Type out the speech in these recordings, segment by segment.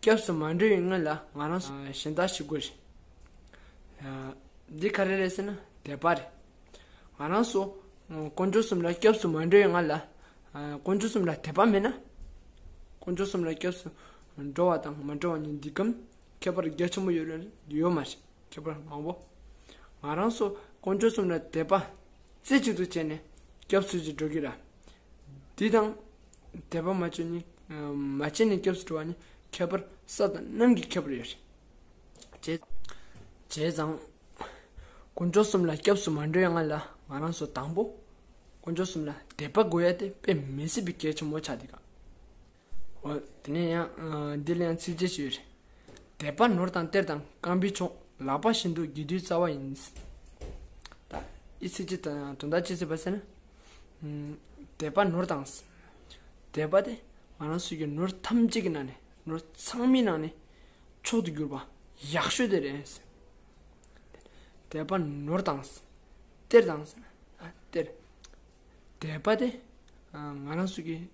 སྐྱབས་སུ་མ་འགྲོ་བའི་སྔོན་ལ་ང་རང་སུ་ཞིག་ཡིན་ལྟ་ཞིག་དགོས་རེད། འདི་ག་རེ་རེད་ཟེར་ན་དད་པ་རེད། ང་རང་སོ་དཀོན་མཆོག་གསུམ་ལ་སྐྱབས་སུ་མ་འགྲོ་བའི་སྔ་ལ་དཀོན་མཆོག་གསུམ་ལ་དད་པ་མེད་ན། དཀོན་མཆོག་གསུམ་ལ་སྐྱབས་སུ་འགྲོ་བ་དང་མ་འགྲོ་བ་གཉིས་འདི་གམ་ཁྱད་པར་རྒྱ་ཆེན་པོ་ཡོད་རེད་ཡོད་མ་རེད་ཁྱད་པར་མང་བོ། ང་རང་སོ་དཀོན་མཆོག་གསུམ་ལ་དད་པ་རྩེ་གཅིག་ཏུ་བྱས་ནས་སྐྱབས་སུ་ཅིག་འགྲོ་གི་ར། འདི་དང་དད་པ་མ་བཅོས་ནས་མ་སྐྱེས་ནས་སྐྱབས་སུ་འགྲོ་བ་ནི་ཁྱད་པར་ས་དང་གནམ་གྱི་ཁྱད་པར་ཡོད་དེ། བྱས་ཙང། དཀོན་མཆོག་གསུམ་ལ་སྐྱབས་སུ་མ་འགྲོ་ཡང་ང་ལ་ང་རང་སོ་དང་པོ། དཀོན་མཆོག་གསུམ་ལ་དད་པ་དགོས་ཡ་དེ་དཔེ་མི་སྲིད་པའི་གལ་ཆེན་མོ་ཆགས་འདུག་ག། འོ་དེ་ནས་ཡང་འདི་ལ་ཡང་ཚིག་གཅིག་ཞིག་ཡོད་རེད། དད་པ་ནོར་དང་གཏེར་དང་བསྐང་བའི་མཆོག། ལག་པ་བཞིན་དུ་དགེ་འདུན་རྩ་བ་ཡིན། དབྱེ་ཚིག་ཅེས་དོན་དག་ཅི་མཛད་པ་ཟེར་ན། དད་པ་ནོར་དང། དད་པ་དེ་ང་རང་སུས་ཀྱང་ནོར་ཐམས་ཅད་ཀྱི་ནང་ནས་ནོར་ཚང་མའི་ནང་ནས་མཆོག་ཏུ་གྱུར་པ་ཡག་ཤོས་དེ་རེད། དད་པ་ནོར་དང། གཏེར་དང། གཏེར། དད་པ་དེ་ང་རང་སུས་ཀྱང་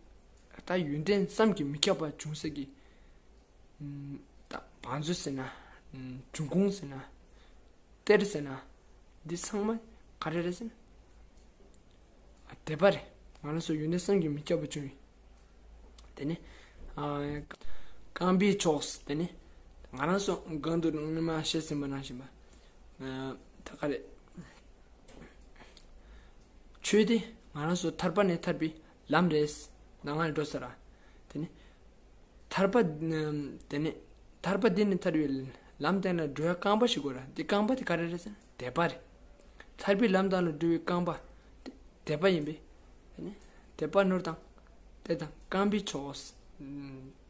ད་ཡོན་ཏན་བསམ་གྱིས་མི་ཁྱབ་པ་ཅུང་ཟད་ཀྱིས། བང་མཛོད་ཟེར་ན། བྲུན་ཁུང་ཟེར་ན། གཏེར་ཟེར་ན། འདི་ཚང་མ་ག་རེ་རེད་ཟེར་ན། དད་པ་རེད། ང་རང་ཚོ་ཡོན་ཏན་བསམ་གྱིས་མི་ཁྱབ་པ་བྱུང་ཡོད། དེ་ནི། རྐང་པའི་ཕྱོགས་སུ་དེ་ནི། ང་རང་ཚོ་སྒང་དུ་སྔོན་མ་བཤད་ཟིན་པ་ནང་བཞིན་པ། ད་ག་རེད། ཆོས་དེ་ང་རང་ཚོ་ཐར་པ་ནས་ཐར་པའི་ལམ་རེས་ན་ང་ཡི་འགྲོ་ཟེར། དེ་ནི་ཐར་པ། དེ་ནི་ཐར་པ་འདི་ནི་ཐར་པའི་ལམ་སྟེང་ན་འགྲོ་བའི་རྐང་པ་ཞིག་གོ། དེ་རྐང་པ་དེ་ག་རེ་རེད་ཟེར་ན་དད་པ་རེད། ཐར་པའི་ལམ་སྟེང་ན་འགྲོ་བའི་རྐང་པ་དེ་དད་པ་ཡིན་པས། དེ་ནི་དད་པ་ནོར་དང། དད་དང་རྐང་པའི་ཕྱོགས་ལ་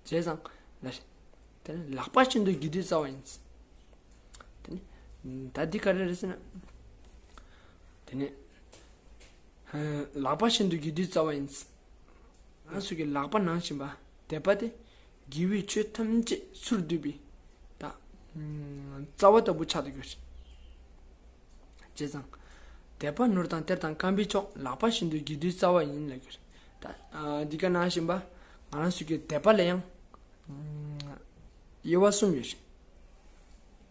བྱས་ཙང་ལ་རེད། དེ་ནི་ལག་པ་ཆེན་དུ་བགྱིད་དུས་རྩ་བ་ཡིན། དེ་ནི་ད་འདི་ག་རེ་རེད་ཟེར་ན། དེ་ནི། ལག་པ་ཤིན་ཏུ་རྒྱུ་དུས་རྩ་བ་ཡིན། སོགས་ཀྱིས་ལག་པ་ནང་བཞིན་པ་དད་པ་སྟེ། རྒྱལ་བུས་ཆོས་ཐམས་ཅད་ཚུར་བསྡུས་པའི། རྩ་བ་ལྟ་བུ་ཆགས་ཏུ་གྱུར། ཅེས་དང། དད་པ་ནོར་དང་གཏེར་དང་བསྐམ་པའི་མཆོག་ལག་པ་ཤིན་ཏུ་རྒྱུ་དུས་རྩ་བ་ཡིན་ལ་གྱུར། འདི་ག་ནང་བཞིན་པ། ང་རང་སོགས་ཀྱི་དད་པ་ལ་ཡང། དབྱེ་བ་གསུམ་ཡོད།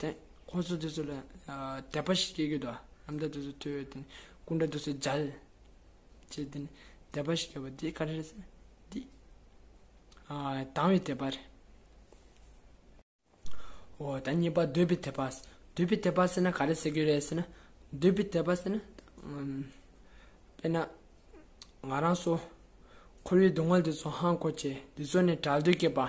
དེ་ཁོ་ཚོ་དེ་ཚོ་ལ་དད་པ་ཞིག་སྐྱེ་དགོས་དོ། ནམ་ཟླ་དེ་ཚོ་ཐོས་ཡོད་དེ། སྐུ་འདྲ་དེ་ཚོ་སྦྱར། ཅེས་དེ་ནི་དད་པ་ཞིག་ཡོད་པ་དེ་ག་རེ་རེད། འདི། དང་བའི་དད་པ་རེད། འོ་ད་གཉིས་པ་འདོད་པའི་དད་པ། འདོད་པའི་དད་པ་ཟེར་ན་ག་རེ་ཟེར་གྱི་རེད་ཟེར་ན། འདོད་པའི་དད་པ་ཟེར་ན། དཔེར་ན། ང་རང་སོ། འཁོར་བའི་སྡུག་བསྔལ་དེ་ཚོ་ཧང་གོ་བྱེད། དེ་ཚོ་ནས་བྲལ་འདོད་སྐྱེས་པ།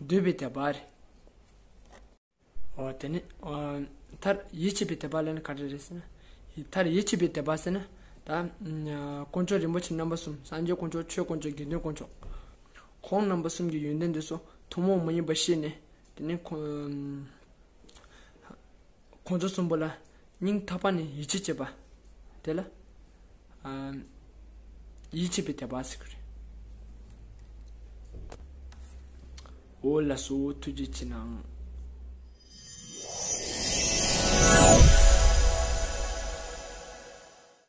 འདོད་པའི་དད་པ། འོ་དེ་ནི། མཐར་ཡིད་ཆེས་པའི་དད་པ་ལ་ནི་ག་རེ་རེད་ཟེར་ན། མཐར་ཡིད་ཆེས་པའི་དད་པ་ཟེར་ན། ད། དཀོན་མཆོག་རིན་པོ་ཆེ་རྣམ་པ་གསུམ་སངས་རྒྱས་དཀོན་མཆོག་ཆོས་དཀོན་མཆོག་དགེ་འདུན་དཀོན་མཆོག། ཁོང་རྣམ་པ་གསུམ་གྱི་ཡོན་ཏན་འདི་སོགས་ཐུན་མོང་མ་ཡིན་པ་ཤེས་ནས། དེ་ནི། ཁོང་ཚོ་གསུམ་པོ་ལ་སྙིང་ཐག་པ་ནས་ཡིད་ཆེས་བྱེད་པ། དེ་ལ། ཡིད་ཆེས་པའི་དད་པ་ཟེར་གྱི་རེད། འོ་ལ་གསོ་བོ་ཐུགས་རྗེ་ཆེ་ནའང།